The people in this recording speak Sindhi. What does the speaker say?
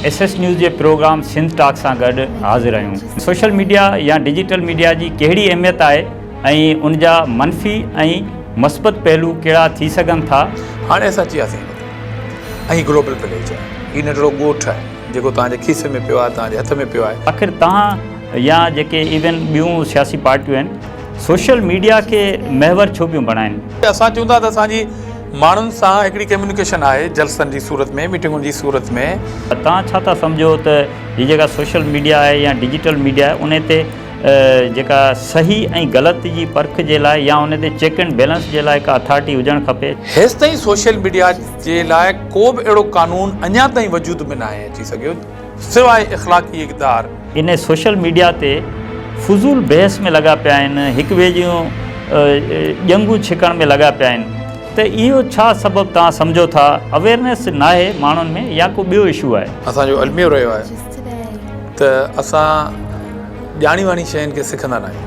ايس ايس نيوز جي پروگرام سنڌ ٽاڪ سان گڏ حاضر آهيون. سوشل ميڊيا يا ڊجيٽل ميڊيا جي ڪهڙي اهميت آهي ۽ ان جا منفي ۽ مثبت پهلو ڪهڙا ٿي سگهن ٿا؟ هاڻي اسان اچي وياسين هن تي ۽ هي گلوبل پليج آهي. هي ننڍڙو ڳوٺ آهي جيڪو توهان جي کيسي ۾ پيو آهي، توهان جي هٿ ۾ پيو آهي. آخر توهان يا جيڪي ايون ٻيون سياسي پارٽيون آهن سوشل ميڊيا کي محور ڇو پيون بڻائين؟ اسان چون ٿا ته اسان جي ماڻهن سان هڪڙي ڪميونيڪيشن آهي جلسن جي صورت ۾ ميٽنگن جي صورت ۾. ته توهان ڇا ٿا سمجهو ته هي جيڪا سوشل ميڊيا آهي يا ڊجيٽل ميڊيا آهي ان تي جيڪا صحيح ۽ غلط جي پرک جي لاء يا ان تي چيڪ اينڊ بيلنس جي لاء ڪا اٿارٽي هجڻ کپي؟ هيستائين سوشل ميڊيا جي لاء ڪو به اهڙو قانون اڃا تائين وجود ۾ ناهي اچي سگهيو. سواء اخلاقي اقدار. انهي سوشل ميڊيا تي فضول بحث ۾ لڳا پيا آهن، هڪ ٻئي جون ڄنگهون ڇڪڻ ۾ لڳا پيا آهن ته اهو ڇا سبب توهان سمجهو ٿا اويرنيس ناهي ماڻهن ۾ يا ڪو ٻيو اشو آهي. اسان جو الميو رهيو آهي ته اسان ڄاڻي واڻي شين کي سکندا ناهيون.